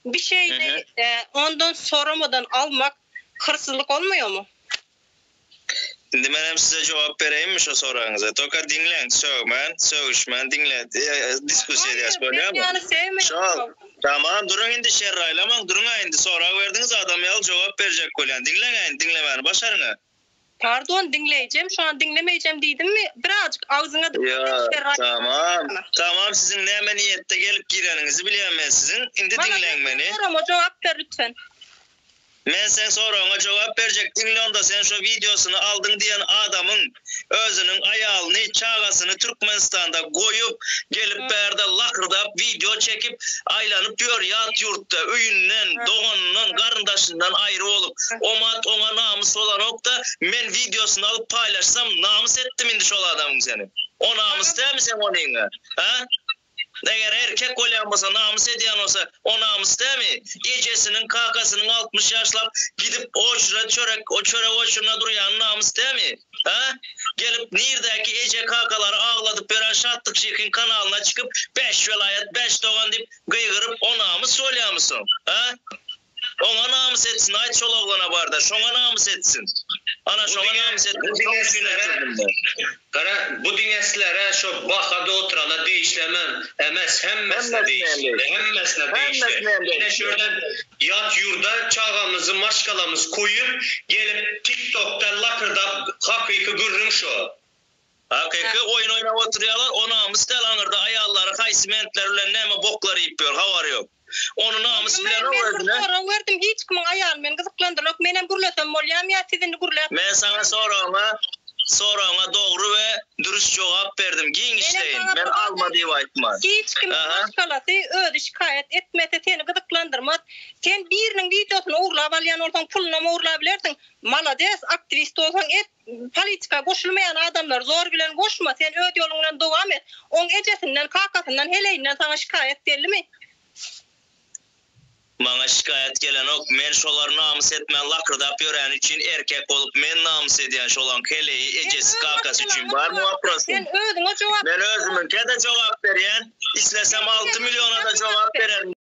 Bir şeyni ondan soramadan almak hırsızlyk olmaýarmy? Indi men hem size jogap bereýinmi şu soragyňyza? Toka diňleň, sögmän, sögüşmän diňle, diskusiýa edýäs bolýarmy? Şol, tamam duruň indi şerr aýlamaň, duruň-a indi sorag berdiňiz adam ýaly jogap berjek bolýan. Diňleň-ä indi diňlemäni başaryň-a. Pardon diňleýjem şan diňlemeýjem diýdimmi birazjyk agzyňa Ýa tamam tamam siziň näme niýetde gelip gireniňizi bilýän men siziň indi diňleň meni. Meniň soragma jogap ber lütfen. Men seň soragyňa jogap berjek diňle onda sen şo wideosyny aldyň diýen adamyň özüniň aýalyny çagasyny Türkmenistanda goýup Gelip bärde lakyrdap wideo çekip aýlanyp ýör ýat ýurtda öýünden doganyndan garyndaşyndan aýry bolup omat oňa namys bolanokda men wideosyny alyp paýlaşsam namys etdim indi şol adamyň seni o namys dämi seň onyňa ha eger erkek bolýan bolsa namys edýän bolsa o namys dämi ejesiniň kakasynyň altmyş ýaşlap gidip oçrýa çörek o çörek oçryna durýany namys dämi. Hä? Gelip, nirdäki eje-kakalary agladyp ýören Şatlyk şyhyň kanalyna çykyp, Bäş welaýat, bäş dogan diýip gygyryp, o namys bolýamysyň? Hä? Oňa namys etsin, aýt şol oglana bar-da, şoňa namys etsin. Ana, şoňa namys etdim, şoň üçin öldürdim-de. Gara, bu diňe sizlere, şo bahada oturana degişli hemen. Emes hemmesine degişli. Hemmesine degişli. Ine şöýerden ýat ýurda çagamyzy maşgalamyz koýup gelip tik tokda lakyrdap hakyky gürrüň şo. Hakyky oýun oýnap oturýalar o namys däl aňyrda aýallary haýsy mentler bilen näme boklar iýip ýör habary ýok. Ony namys bilen o özüne. Men sorag berdim hiç kimiň aýaly meni gyzyklandyrlok menem gürlesem bolýamy ýa siz indi gürläp. Men saňa soragyňa soragyňa dogry we dürüst jogap berdim giňişleýin men alma diýip aýtman. Hiç kimiň maşgalasy özi şikaýat etmese seni gyzyklandyrmaz sen biriniň wideosyny ogurlap alýan bolsaň pulunam ogurlabilersiň malades aktiwist bolsaň et. Politika goşulmaýan adamlar zor bilen goşma sen öz ýoluň bilen dowam et. Oň ejesinden, kakasyndan, heleýinden saňa şikaýat gelimi? Maňa şikaýat gelenok, men şolar namys etmän lakyrdap ýöräni üçin erkek bolup men namys edýän şolaň heleýi, ejesi, kakasy üçin barmy waprosym? Men özümiňkede jogap berýän, islesem alty milliona-da jogap bererin.